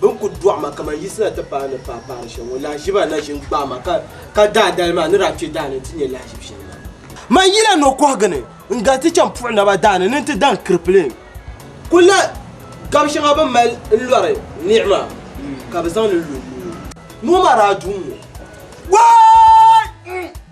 bɛ ni kul dɔɣi ma kaman yisi na ti paai ni paai paari shɛli ŋɔ, lahiʒiba na ʒin gbaai ma ka ka daadali maa ni daa kpe daa ni nti nya lahiʒib shɛli maa. Man yila nokɔhigu ni n-gali ti chaŋ puɣi naba daa ni ni nti daŋ kiripiliŋ kul la gab shɛŋa bɛ mali n-lɔri niɣi maa ka bɛ zaŋ li lu n-ni o. Noo maa daa du n-ŋɔ. Waay!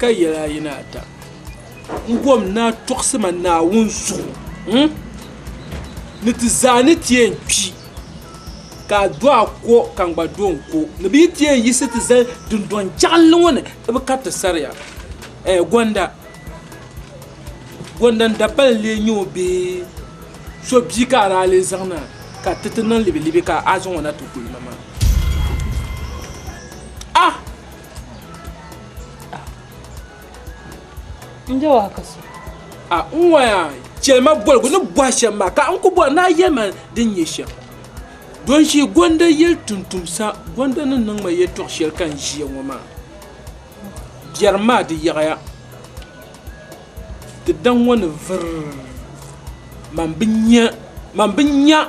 ka yɛli ayi ni ata n gom ni a tuɣisi ma Naawuni zuɣu ni ti zaa ni ti yɛn kpi ka a do a ko ka n gba do n ko ni bɛ yi ti yɛn yiɣisi ti zali dundɔŋ jiɣinli ŋɔ ni di bi kariti saria ɛɛ gɔnda gɔnda n dabali n lee nyɛ o bee so bia ka a daa lee zaŋ na ka ti ti niŋ libilibi ka a zaŋ o na ti guli ma maa ah n je waa ka so a n ŋɔya chɛlima boligu ni bɔhi shɛm maa ka n ku bɔri ni a yɛli ma din nyɛ shɛm don ʒi gonda yili tumtumsa gonda ni niŋ ma yɛltɔɣ shɛli ka n ʒiya ŋɔ maa biɛrim maa di yaɣiya di daŋ ŋɔ ni vuri man bi nya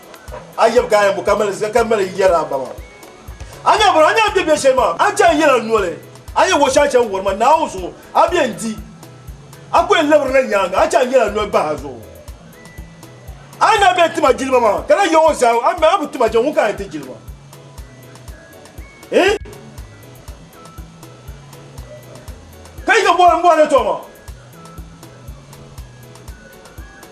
A yɛbi ka ayɛbu ka mali zika ka mali yɛri a ba maa. A ni abiri a ni a bɛ bɛ shɛli maa a chaŋ yɛli a noli a yɛn wɔɣi shɛŋa chaŋ wɔri ma Naawuni zuɣu a bɛ yɛn di a ku yɛn labiri na nyaaŋa a chaŋ yɛli a noli bahi a zuɣu. A ni a bɛ yɛn tim a jilima maa ka na yɛɣi o zaa a mi a bi tim a jɛŋ ŋun ka a yɛn ti jilima. Ka yi ka bɔhiri n bɔhiri tɔma.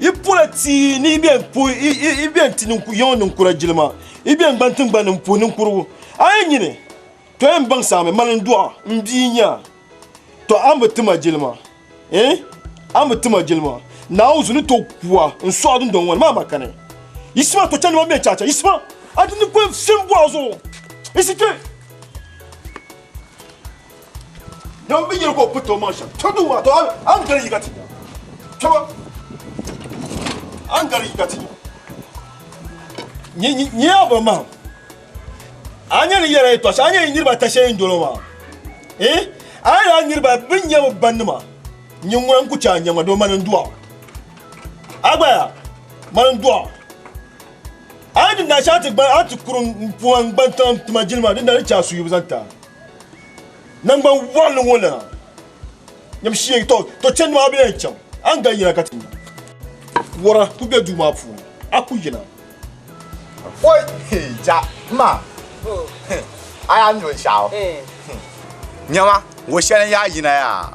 I pola tia ni i biɛn puhi i biɛn ti yaŋɔ ninkura jilima i biɛn gban tingbani n puhi ninkurigu a yi nyini to yɛn baŋ saami mali n dɔɣa n bia nya to a mi ti ma jilima eh a mi ti ma jilima naawu zu ni to kuwa n sɔɣi dundɔŋ ŋɔ ni maa makani yisima to chɛndima biɛn chacha yisima a ti ni kuli fim bɔɣa zuɣu yisi kpe Dama bi yɛli ka o piriti o maŋ shɛm. Tɔbu din waa to a ni gari yiga ti nya. Tɔbu a ni gari yiga ti nya. Nyɛ a ba mahim. A nyɛ ni yɛra yi tɔɣa shɛli a nyɛ yi niriba ata shɛli yi ni doli o maa. A ni a niriba bi nyɛ bi ba nima nyɛ ŋuna n ku chɛ a nyɛma doo mani n dɔɣ. A gba yaa mani n dɔɣ. A ni di naashɛli a ti kuri n puhi n gban tiŋa n tima jilima dindali n chɛ a suhiyibu zaŋ ti a. Nangban wɔɣili ŋɔ lana nyam shee to to chani maa bɛ yɛn chaŋ a ni daa yina ka ti nya wara ku bɛ duu maa puuni a ku yina. Oi hee ja ma a yaa nyo n shɛɣu nyama wo shɛli n yaa yina yaa.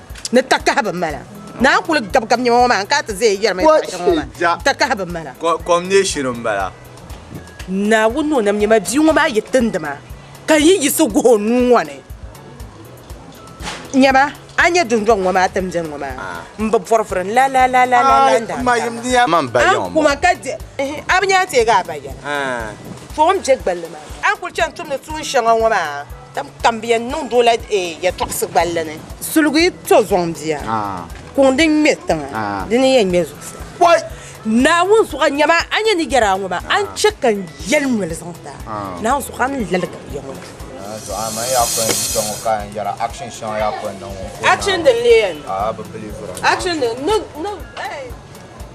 ni takahi bi mala. Naa n kuli gabi gabi niɛma ŋɔ maa n kana ti zaya yɛri ma yɛtɔɣa shɛŋa ŋɔ maa takahi bi mala. Kom neei shiri n bala. Naawuni ni o nam nyɛma bia ŋɔ maa yi tindi ma ka n yi yiɣisi guhi o nuu ŋɔ ni nyɛma a ni nyɛ dundɔŋ ŋɔ maa tiŋbɛn ŋɔ maa n bi bɔri vuri n la la la la la n daa taaba a kuma ka di a bi nya n teegi a ba yɛla tɔɔ m be gballi maa a ni kuli chani tumdi tuun shɛŋa ŋɔ maa. Tam kam bɛ yɛn niŋdi o la yɛtɔɣisi gballi ni. Suligi to zɔŋ bia, kuŋ din ŋme tiŋa, di ni yɛn ŋme zuɣusaa. Naawuni zuɣu nyɛma a nyɛ ni yɛri a ŋɔ maa, a ni chɛ ka n yɛli noli zaŋ ti a. Naawuni zuɣu a ni laligi bia ŋɔ duu. Action din leei ya ni.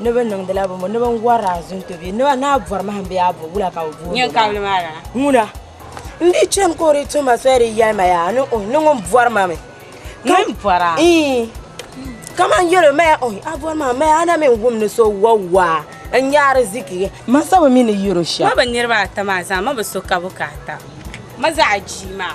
Noba niŋdila bini noba n wari azonto bee noba naa bɔri mahim bee a bɔri wula ka bi booni Nyɛn kabili maa lana. ŋuna n di chani ka o di tuhi ma soli di yɛli ma yaa ni ohi ni ŋun bɔri ma mi Ŋun bɔra? ii kaman yɛli o ma yaa ohi a bɔri ma mi a na mi n wum ni so wari waa n nya ariziki ma sabo mi ni yɛro shɛm Ma bi niriba ata maa zaa ma bi so ka bi ka ata ma zaɣa jii maa.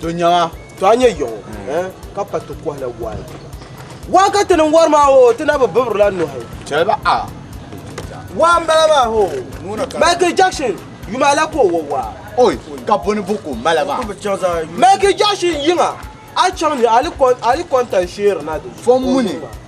to nyɛŋa to a nyɛ yɔŋɔ eh, ka pa ti kɔhila waai waa ka ti niŋ wari maa o ti na bi bibirila nuhi chɛliba a waa n bala maa ho michael jackson yuma la ka o wa waa oi ka buni bu ko mala maa michael jackson yiŋa a chaŋ ni ali kɔntan sheeri na di fɔm muni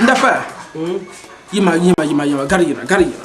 N da faya yima yima yima yima gari yina gari yina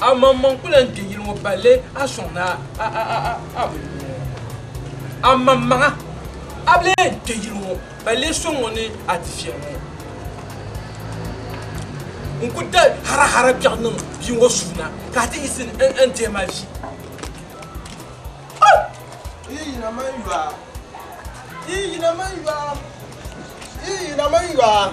Amanmaŋ n-kul lan kpe yili ŋɔ balle a sɔŋ ni a bi lu ŋɔ. Amanmaŋa! A bi lee kpe yili ŋɔ balle a sɔŋ ni a ti viɛl ŋɔ. N ku da harahara kpiɛɣu niŋ bia ŋɔ suu na ka a ti yiɣisi n deei ma vi. Oh! Yi yina man yɔa! Yi yina man yɔa! Yi yina man yɔa!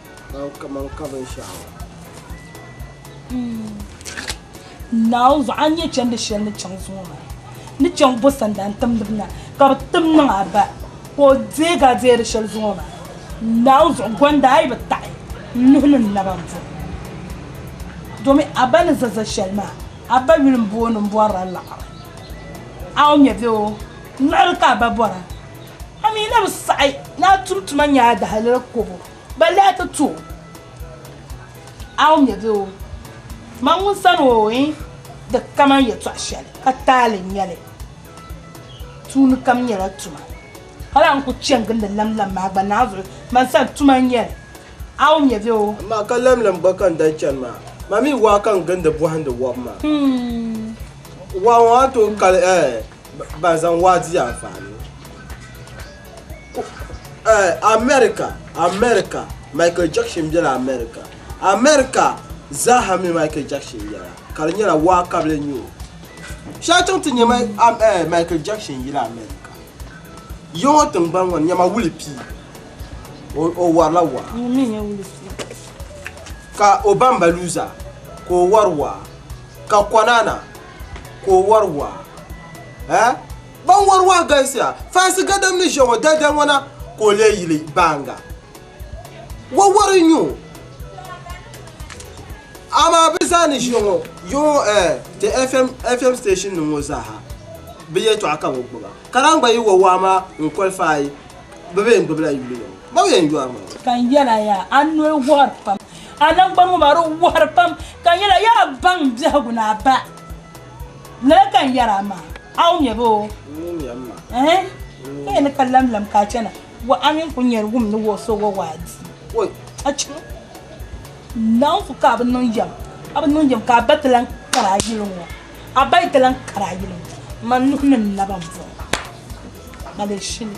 Naawuni zuɣu a ni nyɛ chɛndi shɛli ni chaŋ zuŋɔ maa ni chaŋ bo sandan timdiba na ka bi tim niŋ a ba ka o deeg a deeri shɛli zuŋɔ maa Naawuni zuɣu gɔnda a yi bi taɣi n nuhi ni n naba m-bo domin a ba ni za za shɛli maa a ba yuli m-booni m-bɔri la liɣiri a ŋmɛ bee oo liɣiri ka a ba bɔra a mi na bi saɣi ni a tum tuma nya a dahalali kobo. Ba lahi ti tu aum ya bɛ o, man ŋun san o ɔ in di kaman yɛtɔɣ shɛli ka taali n-nyɛ li. Tuuni kam nyɛla tuma. Hal a ni ku chani gindi lamlam maa gba naanzuɣu man sani tuma n-nyɛ li, aum ya bɛ o. Amaa ka lamlam gba ka n daa chani maa, man mi waa ka n gindi bɔhindi wɔbu maa. Waa ŋɔ a tooi kali ɛɛ? Ban zaŋ waa di anfaani. America America Michael Jackson bela America America zaaha mi Michael Jackson yela ka di nyɛla waa ka bɛ nyo shɛba chaŋ ti nya Michael Jackson yili America ya ŋɔ tingbani ŋɔ ni nyama wuli pii o warila waa ka o bamba luuza ka o wari waa ka Konana. ka o wari waa eh ban wari waa galisiya faasi gadam ni ʒe ŋɔ dalidali ŋɔ na ka o lee yili baaŋa wawari n-nyɛ o amaa bɛ zaa ni ʒe ŋɔ yo ŋɔ eh ti FM FM station nim ŋɔ zaa ha bɛ yɛltɔɣa ka bɛ gbuba ka lahi gba yi wa waa maa n-qualify Bɛ be yɛn gbibila yuli ŋɔ. Ba o yɛn yɔri ma. Ka n yɛl a yaa, a noli wuhiri pam. A naŋgban ŋɔ maa, di wuhiri pam. Ka n yɛl a, yaa baŋ biɛhigu ni a ba. Lala ka n yɛr a maa. A wumya bee oo? N wumya m-ma. Ɛɛn! Ka yɛn ni ka lamlam ka a chana, wa a mini kuli nyari wum ni wa o so wa waa di. Oi! A chim! Naawuni su ka a bi niŋ yɛm, a bi niŋ yɛm ka a ba ti lan kari a yuli ŋɔ. A ba yi ti lan kari a yili ŋɔ, man nuhi ni n-lab a bɔŋ palli shili.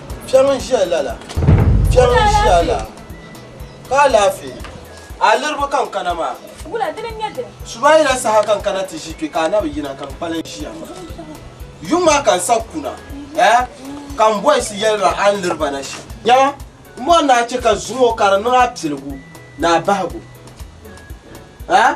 Kpɛŋ n ʒiya lala, kpɛŋ n ʒiya lala. Ka alaafee? A liriba ka n kana maa. Wula dini n nyɛ dini? Subaayila saha ka n kana ti ʒi kpe ka a na bi yina ka n kpalim ʒiya maa. Yuŋ maa ka n sa kuna eh ka m boys yɛli ma a ni liri ba na shɛm. Nyama, m bɔri ni a chɛ ka zuŋɔ ka di niŋ a piligu ni a bahigu eh.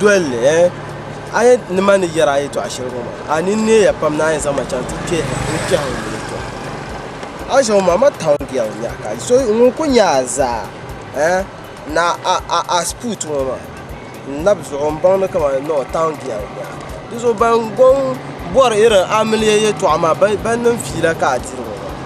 Dolli, ɛɛ, a ni nima ni yɛri a yɛtɔɣ shɛli ŋɔ maa, a ni neeya pam ni a yɛn zaŋ ma chaŋ ti kpɛhi n ni kpɛhi n yuli tɔ. A ʒiɛm maa, ma town girl n-nyɛ a ka so ŋun kul nya a zaa, ɛɛ, ni a, a, a sput ŋɔ maa. N lab zuɣu m-bɔŋ ni kaman ni o town girl n-nyɛ a. Di zuɣu ban gɔŋ bɔri irin amiliya yɛtɔɣ maa, bɛ, bɛ niŋ fiila ka a diri ŋɔ maa.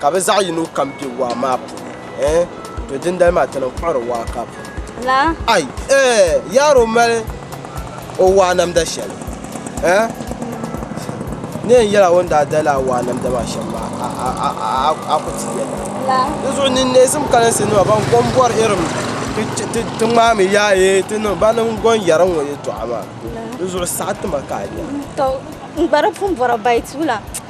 ka bɛ zaɣ yino kam be waa maa puuni. Ɛɛn, to dindali maa ti niŋ kpuɣiri waa ka pu. La? Ai, ɛɛn, yaaro mali o waa namda shɛli. Ɛɛn, n ni yɛn yɛl a o ni daa dali a waa namda maa shɛm maa, a, a, a, a, a, a ku ti yɛli. La? Di zuɣu n ni neesim kalinsi nima ban gom bɔri irim ti, ti, ti, ti ŋmaami yaa yee ti niŋ ba ni n gom yɛri ŋ-ŋɔ yɛtɔɣa maa. La? Di zuɣu saɣi ti ma ka a nya. Tɔ, n gba di pun bɔra bayi tuula.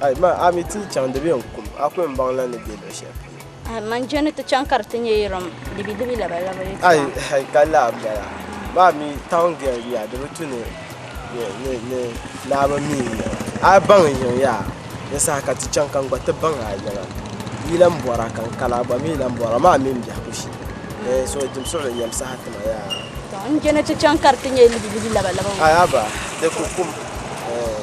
Ai ma, a mi ti chaŋ di be n kum, a kul ni baŋ lan ni be luɣ shɛli polo. Ai ma, n je ni ti chaŋ ka di ti nyɛ yirim libilibi labalaba yi tɔɣu. Ai, hal ka laa m-bala. Ma mi, taun gɛri ya di bi tu ni Naawuni mi n-nyɛ ba. A baŋ n yiŋ ya, ni saha ka ti chaŋ ka n gba ti baŋ a yiŋa. Yi lan bɔra ka n kani, a gba mi lan bɔra, ma mi m biɛhigu shee. Ɛɛh, so dim suɣili yɛm saha ti ma yaa. Tɔ, n je ni ti chaŋ ka di ti nyɛ libilibi labalaba. Ai, a ba, di ku kum. Ɛɛh.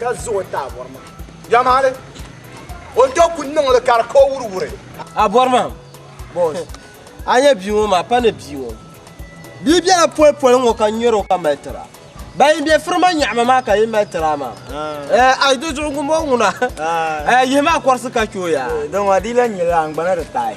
ka za o taabɔri maa yamahali o ni tooi kuli niŋ li ka di ka o wuriwuri abɔri maa boos a nyɛ bia ŋɔ maa pa ni bia ŋɔ bia bela poli poli ŋɔ ka nyɛri o ka mali tira ban yi bɛ firima nyaɣama maa ka yi mali tira maa a yi do zuɣu ŋun bɔŋɔ ŋuna yihi maa kɔrisi ka chɛ o yaa dama di la nyɛla angbana di taai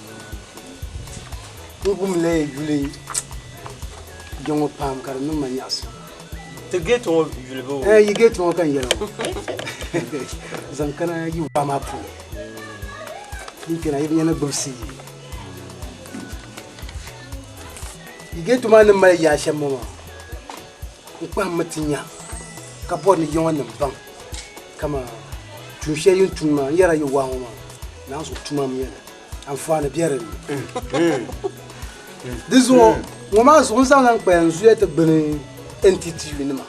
N gumila yuli kpe ŋɔ pam ka di niŋ ma nyaɣisim. Ti geeti ŋɔ yuli bɛ o. Yi geeti ŋɔ ka n yɛli ŋɔ. Zaŋ kana yi waa maa puuni. Yi kpena yi bi nya ni gbibisi yi. Yi geeti maa ni mali yaa shɛm ŋɔ maa n kpahimmi ti nya ka bɔri ni yiŋɔ nim baŋ kaman tuun shɛli yi ni tum maa n yɛrila yi waa ŋɔ maa naanzu tuma m yɛli. anfaani bɛ dinni di zuɣu ŋɔ maa zuɣu n zaŋ lan kpaya n zuya ti gbuni NTTU nima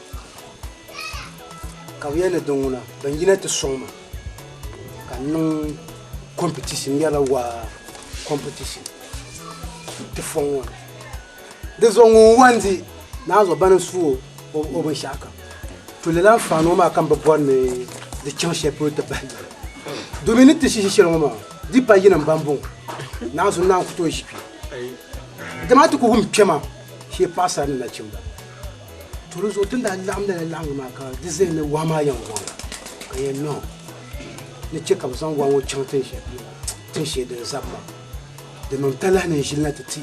ka bɛ yɛli ni din ŋuna bin yina ti sɔŋ ma ka n niŋ competition n yɛrila waa competition ti fɔŋ ŋɔ ni. Di zuɣu ŋun wan di naanzuɣu bani n-su o o binshɛɣu kam, to lala n-faan ŋɔ maa ka m bi bɔri ni di chaŋ shɛli polo ti bahi yuri. Domin ni ti shihi shɛli ŋɔ maa, di pa yinim bɛn bɔŋɔ, naanzu naan ku tooi ʒi kpe. Dama a ti ku wum kpɛma shee paɣisara ni nachimba. To di zuɣu tin daa laɣim lala laɣingu maa ka di zaya ni wahu maa yɛn waŋ ka yɛn niŋ ni chɛ ka bɛ zaŋ wahu ŋɔ chaŋ tin shɛli polo, tin shee din zabi maa. Di niŋ talahi ni n ʒili na ti ti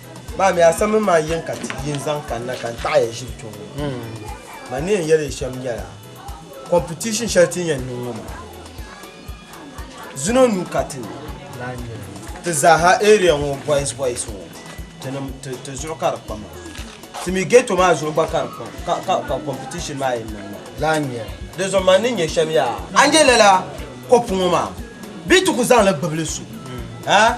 Maa mi asam mi maa yin ka ti yin zaŋ kanna ka n taɣaya ʒiri kpe ŋɔ. Ma ni yɛn yɛli yi shɛm nyɛla, competition shɛli ti ni yɛn niŋ ŋɔ maa, zino nuu ka ti ni lahi nya li. Ti zaaha area ŋɔ boys boys ŋɔ ti nim ti zuɣu ka di kpa maa. Ti mi ghetto maa zuɣu gba ka di kpa ka ka competition maa yɛn niŋ maa. Lahi nya li. Di zuɣu ma ni nya shɛm yaa, a nya lala kopu ŋɔ maa bee ti ku zaŋ li gbibi li so a?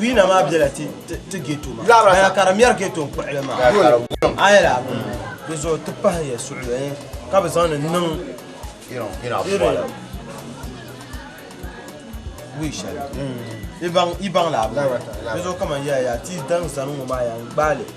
Wina maa bela ti ti ghetto ma. Baya ka di mɛri ghetto kpuɣili maa. Ayela di zuɣu ti pahi ya suɣili eh, ka bi zaŋdi niŋ irin wi shɛli. I baŋ la di zuɣu kaman ya ya ti daŋ zani ŋɔ maa ya n gbaali.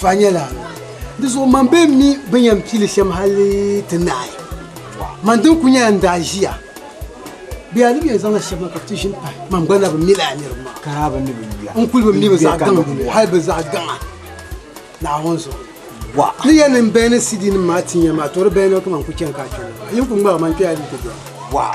Tɔha nyɛla, Di zuɣu man bee m mi bɛ ni yɛn pili shɛm hali ti naai? Man dini kuli nyɛla n daa ʒiya, bɛ yaa di mi yɛn zaŋla shɛba ka bɛ ti ʒi m pahi, man gba na bi mi lala niriba maa. N kuli bi mi bɛ zaɣ gaŋa ni hali bɛ zaɣ gaŋa Naawuni zuɣu. Ni yɛn niŋ bɛn ni CD-nim maa tin ya maa, tɔ di bɛn ni o kaman n kuli chani ka a kpe ŋɔ. Yi ni kuli ŋmari ma n kpe a di yi ti dɔya.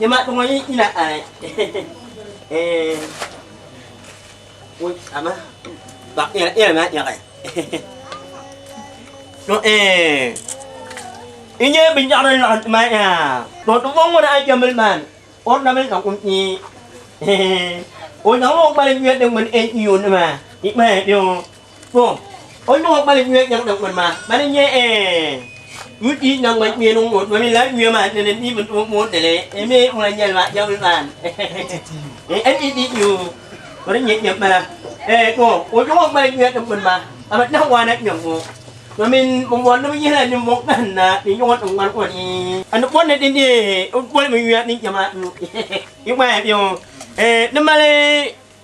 Nyama ŋɔ yi yina ai ee ama ba yɛli maa yaɣi to ee n nyɛ bin yaɣari laɣim ti maa yaa to ti bɔŋ ŋɔ na a jɛmbili maa ni o na mi ka kum ee o zaŋla o gbali ŋmɛri di ŋmani ee iyo nima i kpaya biyo Ko o nyuɣu kpali nyuya nyaŋ naŋgbani maa bani n-nyɛ UD naŋgbani nyuya niŋ ŋɔ domin lala nyuya maa ni ni mi moodili mi ŋuna nyɛli maa jɛmli maa NED nyu o ni nyɛ nyɛm bala ko o nyuɣu kpali nyuya niŋgbani maa ka bi nahi waana nyuya ŋɔ domin bi mɔri ni bi yihila ninvuɣ kahinda ni nyuɣu niŋgbani ŋɔ ni ka ni bɔri ni di nyɛ o boli mi nyuya ni nyɛ maa nyu yi gbaaya bɛ ŋɔ ni mali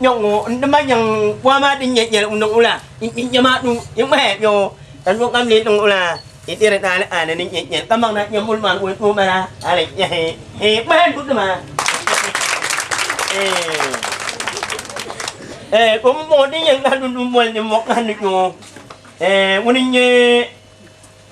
nyɛ ŋɔ n di ma nyɛ waa maa din nyɛ nyɛ n niŋ la n nyɛ maa dun n ŋmahi nyɛ ŋɔ ka n kam lee niŋ la n diri naa ni aani ni nyɛ nyɛ ka maŋ na nyɛ muli maa ŋɔ doo mala ali nyɛ he he ŋmahi n dudi maa ee o mɔŋɔ din nyɛ ŋmahi dundun mɔli ni mɔɣu ŋmahi ni nyɛ ŋɔ ee ŋuni n nyɛ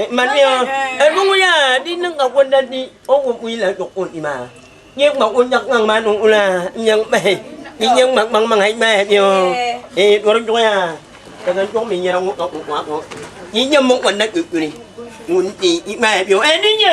Eh, man ni o, eh, ni ŋun yaa di niŋ ka gonda di o ŋun mu yila dɔk o ni maa. Nyɛ ŋma o nyɛg ŋaŋ maa niŋ ula, nyɛ ŋmahi, ni nyɛ ŋma ŋmaŋ maŋ ai ŋmahi ni o. Eh, dɔri dɔg yaa, ka zaŋ dɔg mi nyɛra ŋun ka o ŋwa ŋɔ. Ni nyɛ mɔŋ o na kpe kuli, ŋun di i ŋmahi ni o. Eh, ni nyɛ.